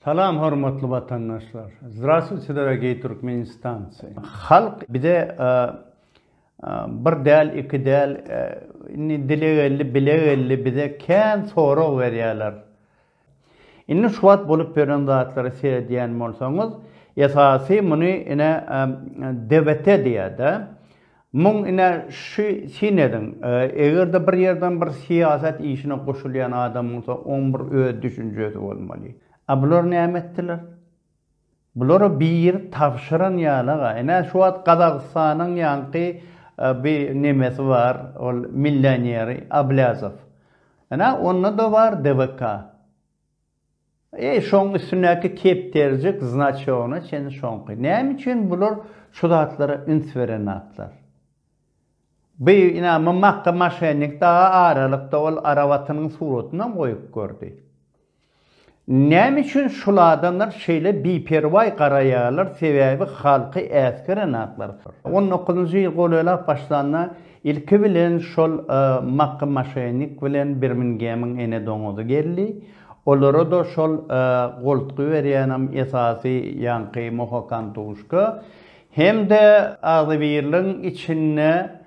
Salam hormatly watandaşlar. Zdrastwuyte dorogiý Türkmenistancy. Halk bize bir däl iki däl indi dile geldi bile geldi bize kän sorag berýärler. Indi şu wagt bolup ýören zatlary seredýän bolsaňyz esasy muny ine DBT diýýär-de. Muň ine şu syn ediň, eger-de bir ýerden bir syýasat işine goşulýan adam bolsa, oň bir öz düşünjesi bolmaly. A bular näme etdiler? Bulara biri tabşyran ýaly-a. Ine şu wagt Gazagystanyň ýaňky bi nemesi bar, ol millioneri Ablýazow. Ine onda-da bar DWK. Eý, şoň üstündäki kepderijik znaçogyna çenli şoňky. Näme üçin bular şu zatlara üns beren zatlar? Bi, ina, Mmakka maşennik daga aralykda ol arabatynyň suratynam goýup gördi. Näme üçin şul adamlar şeýle biperwaý garaýarlar, sebäbi halky äsgeren zatlar. On dokuzynjy ýyl golaýlap başlanda Ilki bilen şol Makky Maşenik bilen Birmingemiň ene doňuzy geldi. Olara-da şol goltgy berýänem esasy ýaňky Mohokantuşka hem-de agzybirligiň içinde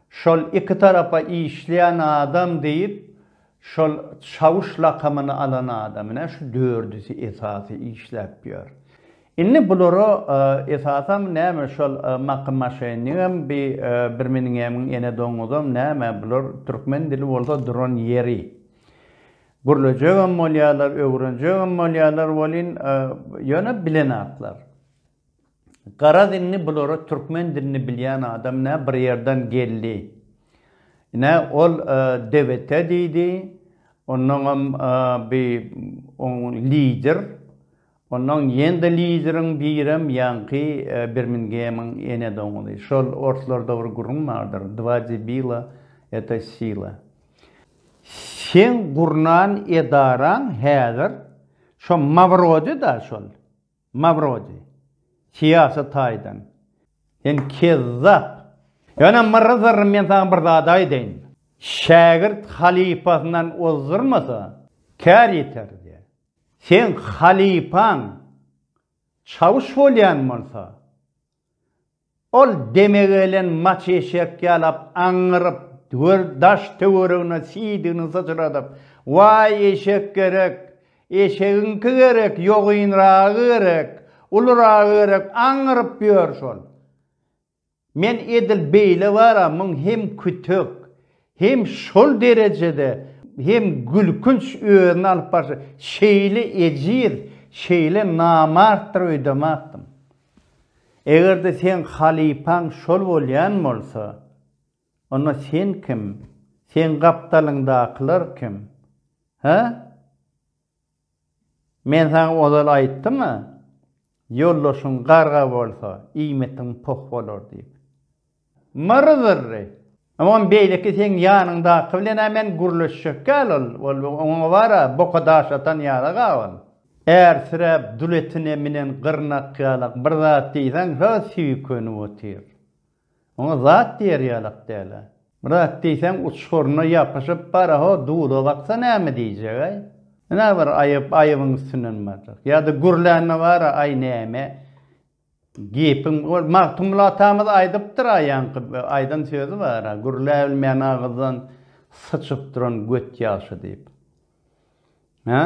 şol iki tarapa işleýän adam diýip Şol Çawuş lakamyny alan adamyna şu dördüsi esasy işläp ýör. Indi bulara esasam näme şol Maky maşenigem bi birmingemň ene doňuzam näme bular türkmen dili bolsa duran ýeri. Gürlejegem bolýarlar öwrenjegem bolýarlar welin ýöne bilenaklar. Garaz indi bulara türkmen dilini bilýän adam nä bir ýerden geldi. Ine ol DBT diýdi. Onnoňam bi oň lider. Onnoň ýende lideriň birem ýaňky Birmingemiň ene doňuzy. Şol orslarda bir gürrüň bardyr, Dva debila это sila. Seň gurnan edaraň häzir şo Mawrodi-da şol. Mawrodi, syýasy taýdan sen kezzap. Ýöne Myrzarr men saňa bir zat aýdaýyn. Şägirt halypasyndan ozdurmasa, kär ýeter diýýär. Seň halypaň çawuş bolýan bolsa, Ol deme gelen maç eşek ýalap aňňyryp, gör daş-töweregine siýdigini syçradyp, Waý, eşek gerek! Eşegiňki gerek, ýogynragy gerek, uluryragy gerek aňňyryp ýör şol. Men edil beýle bar-a, muň hem kütek, hem şol derejede hem gülkünç özüni alyp barşy, şeýle ejiz, şeýle namartdyr öýdemäpdim. Eger-de seň halypaň şol bolýan bolsa, onda sen kim, seň gapdalyňdakylar kim? Hä? Men saňa ozal aýtdym-a, ýoldaşyň garga bolsa, iýmitiň poh bolar diýip. Myr-zyrry. Oňam beýleki seň ýanyňdaky bilen-ä men gürleşjekkä ýaly ol, oňa bar-a, boka daş atan ýaly-a ol. Ärsiräp, dul etine minen gyrnak ýalak bir zat diýseň şa süýkenip otyr. Oňa zat diýer ýalak däl-ä. Bir zat diýseň uçguryna ýapyşyp bar-a, ho, dula baksa näme diýjek-äý? Ine bir aýyp, aýybyň üstünden barjak. Ýa-da gürlände bar-a, aý näme, Gepiň ol Magtymguly atamyz aýdypdyr a ýaňky aýdan sözi bar a gürläbilmeýän agyzdan syçyp duran göt ýagşy diýip. Hä?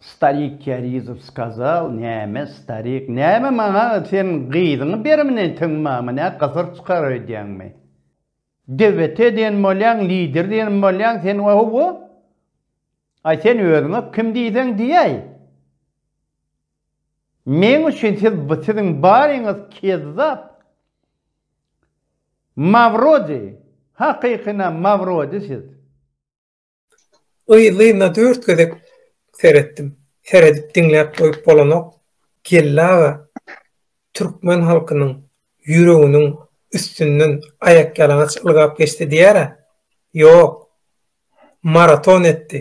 Starik Kerizow skazal näme starik näme maňa sen gyzyňy bermini tiň mama nä gysyr çykar öýdýäňmi? DWT diýen bolýaň lider diýen bolýaň sen ohowo. Aý sen özüňe kim diýseň diýäý. Meň üçin siz bu siziň baryňyz kezzap Mawrodi hakykyna Mawrodi siz. Yzlyna dört gezek seretdim. Seredip diňläp goýup bolanok. Geldi aga türkmen halkynyň ýüreginiň üstünden aýakýalaňaç ylgap geçdi diýýärä. Ýok. Maraton etdi.